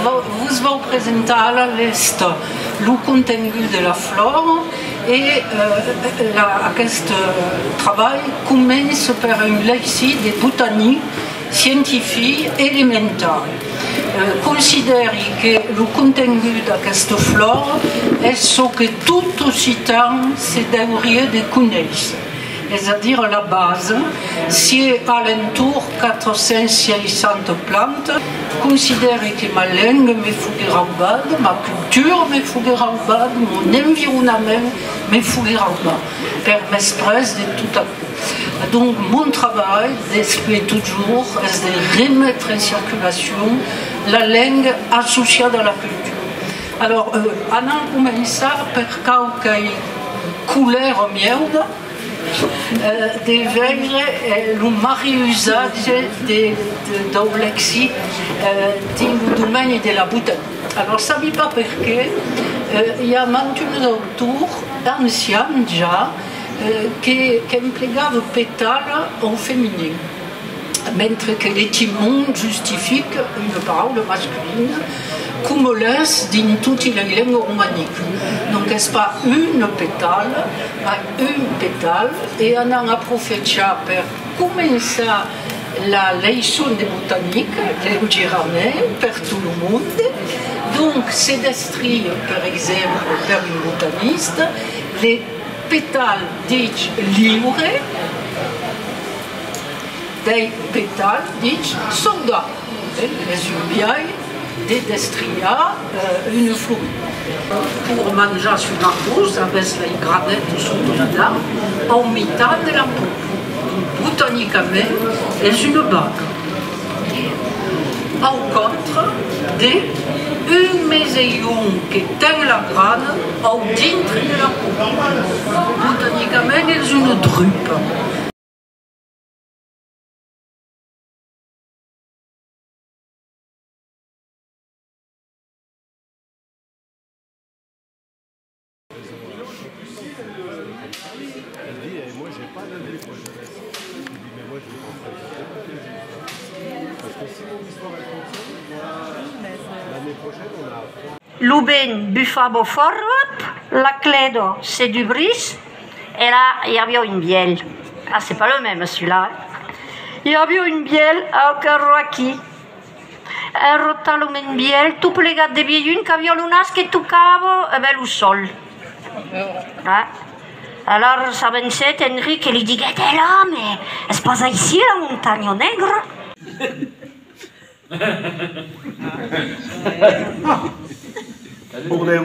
Vos vau presentar a la lèsta lo contengut de la flor e aqueste trabalh comença per un lècit de botanic scientific elemental considèri que lo contengut d'aquesta flor es çò que tot occitan se deuriá de conéisser, es a dire la base, sié a l'entorn 460 plantas, considèri que ma lenga me fogué raubada, ma cultura me fogué raubada, mon environament me fogué raubat, per mès pres de tot aquò. Donc mon trabalh d'espler totjorn es de remetre en circulacion la lenga associada a la cultura. Alors anam començar per quauquei coulèra mieuda de veire lo mariusatge dau lexic dins lo domeni de la beautat. Alors sabi pas perqué i a mantuns autors ancians ja, qu'emplegava petal au feminin, mentre que l'etimon justifique una paraula masculina, coma l'es dins toti lei lengas romaniques. Donc es pas un petal, mas un petal. E anam aprofechar per començar la leiçon de botanique deu giraner per tot lo monde. Donc se descrie, per exemple, per un botaniste, le. Petal dich liure, dei petal dich songa, es un biais de destriar una flor. Pur manjar son arbós aves lei granets s'oblida au mitan de la pop, botanicament es una baga. que, au contre, de un mes e un que ten la grana au dintre de la coquilha. Botanicament es una drupa. Lo vent bufava fòrt, la clèda se dubrís e la i aviá un bièlh. Ah, c'est pas le même celui-là. I aviá un bièlh au còr roquí. Rota lo men bielh tot plegat de vielhun qu'aviá lo nas que tocava ben lo sol. Alar s'avencèt Enric e li diguèt, È la, me, es pas aicí la montanha negra? Bordèu!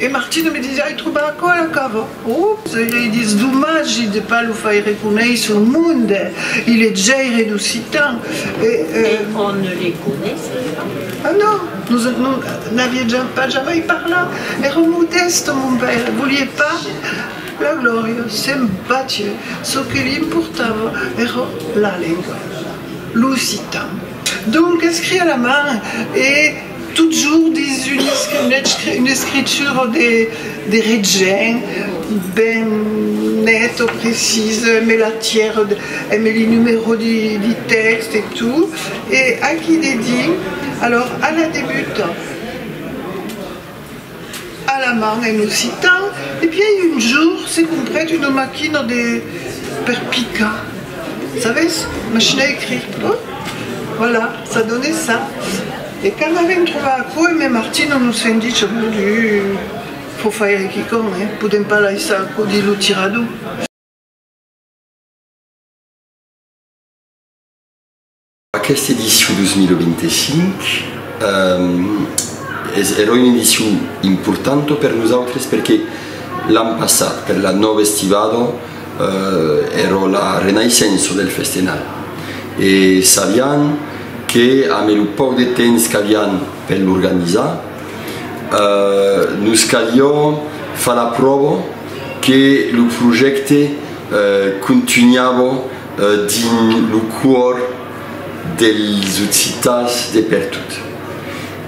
E Martino me disiá, ai trobat aquò a la cava. Ops! Ai lei dits, domagi de pas lo faire coneisser au monde, il est jaire d'occitan, e. E on ne les connaissait pas. Ah non! Nos n'aviam pas jamai parlat, èra modèste mon paire, volié pas la glòria, se'n batié, çò que li importava èra la lenga, l'occitan. Donc escriá la man e. Totjorn dins una escritura de regent, ben neta, precisa, embe la tièra, embe li numero di tèxt e tot, e aquí dedins, alors, a la debuta. Alemand en occitan, e bièi un jour se comprèt una maquina de per picar sabes machine à écrire pardon voilà ça donnait ça e quand avèm trobar aquò e mèn Martino nos fèn dicha mon Dieu faut faire qui con hein podèm pas laissar aquò dins lo tirador. Aquesta edicion 2025 es era una edicion importanta per nosautres perque l'an passat, per la nòva estivada, èra la renaissença del festenal e sabián que ambe lo pauc de temps qu'avián per l'organizar, nos caliá far la pròva que lo projècte contunhava dins lo còr dels occitans de pertot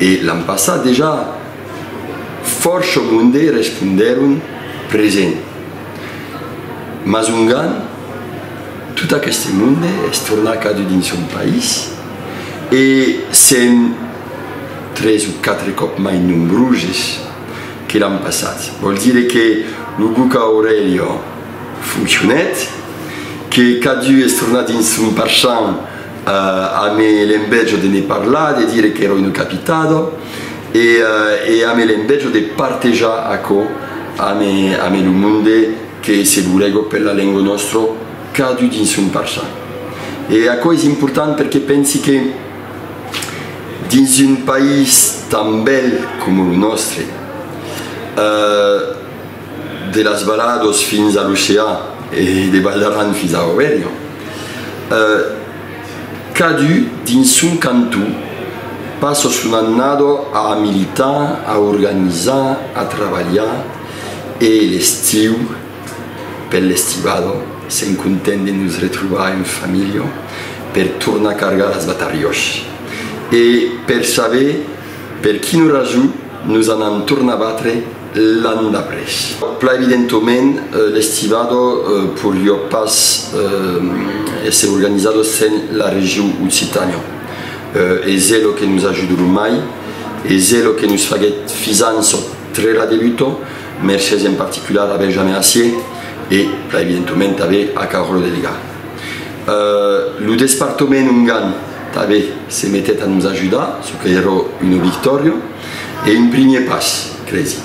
e l'an passat dejà fòrça monde respondèron present mas ongan tot aqueste monde es tornat cadun dins son país e sèm tres o quatre còp mai nombroses que l'an passat vòl dire que lo Buca Aurelio Foncionèt, que cadu es tornat dins son parchan ame l'envejo de ne parlar, de dire qu'èra una capitado e ame l'envejo de partejar aquò ame lo monde que se burego per la lengo nòstro cadu dins son parchan. E aquò es important perque pensi que dins un país tan bèl coma lo nòstre, De las Balados fins a l'ocean e de Val d'Aran fins a Aurèlio, cadun dins son canton passa son annada a militar, a organizar, a trabalhar e l'estiu, per l'estivada, sèm contents de nos retrobar en familha per tornar cargar las batarriòs e per saber Per quina rason nos anam tornar batre l'an d'après? Plan evidentoment, l'estivado porió pas èsser organizado sens la region Occitània. Es elo que nos ajudó lo mai, es elo que nos faguèt fisant sò trèra de luto, mercés en particular a Benjamin Assier e, plan evidentoment, tanben a Carolo Delegà. Lo despartament ongan. Tabe se metèt a nos ajudar, çò que èra una victòria e un primièr pas, cresi.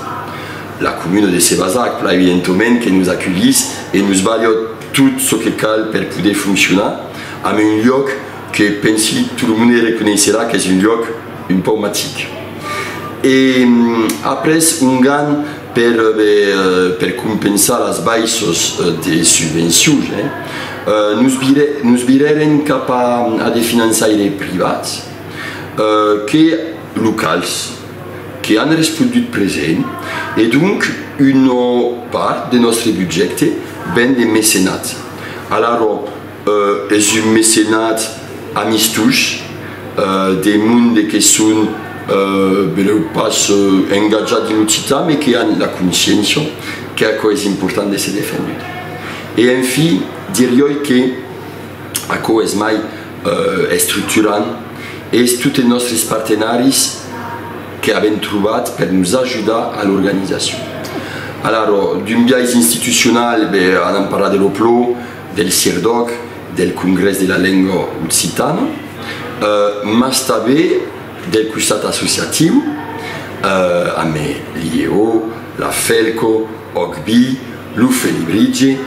La comuna de Sébazac plaivi en tomèn que nos aculhís e nos balhòt tot çò que cal per poder foncionar amb un luòc que pensi tot lo monde reconeisserà qu'es un luòc un pauc magic. E après un gan Per compensar las baisses de subvencions, nos virèren cap a de finançaires privats que locals, que an respondut present, e donc una part de nòstre budjècte ven de mecenats. Alara, Es un mecenat amistós de monde que son benlèu pas engatjats dins lo citan me que an la consciéncia qu'aquò es important d'èsser defendut. E en fi, dirioi que aquò es mai estructurant, es tot es nòstres partenaris que avèm trobat per nos ajudar a l'organizacion. Alara, d'un biais institucional, ben, anam parlar de lo PLO, del CIRDOC, del Congrès de la Lenga Occitana, mas tanben del costat associatiu, ambe l'IEO, la FELCO, OCBI, lo Felibritge,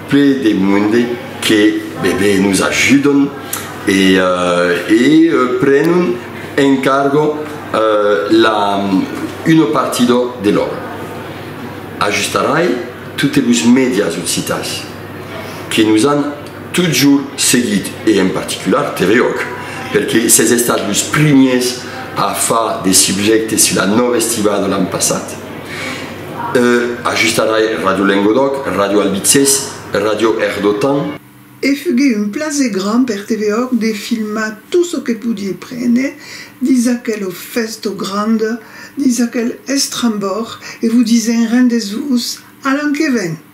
ple de monde que bebé nos ajudon e prenon en cargo la una partida de l'òbra. Ajustarai totes los medias occitans. que nos an totjorn seguit e en particular Terreòc, perque s'es estat los primiers a far de subjècte sus la Nòva Estivada l'an passat. E ajustarai Ràdio Lengodòc, Ràdio Albitzés, Ràdio Erdotan. E fugué un plaser grand per Teveòc de filmar tot çò que podie prene dins aquel ofèsto grand, dins aquel estrambòrg, e vos disen rendez-vos a l'an que ven!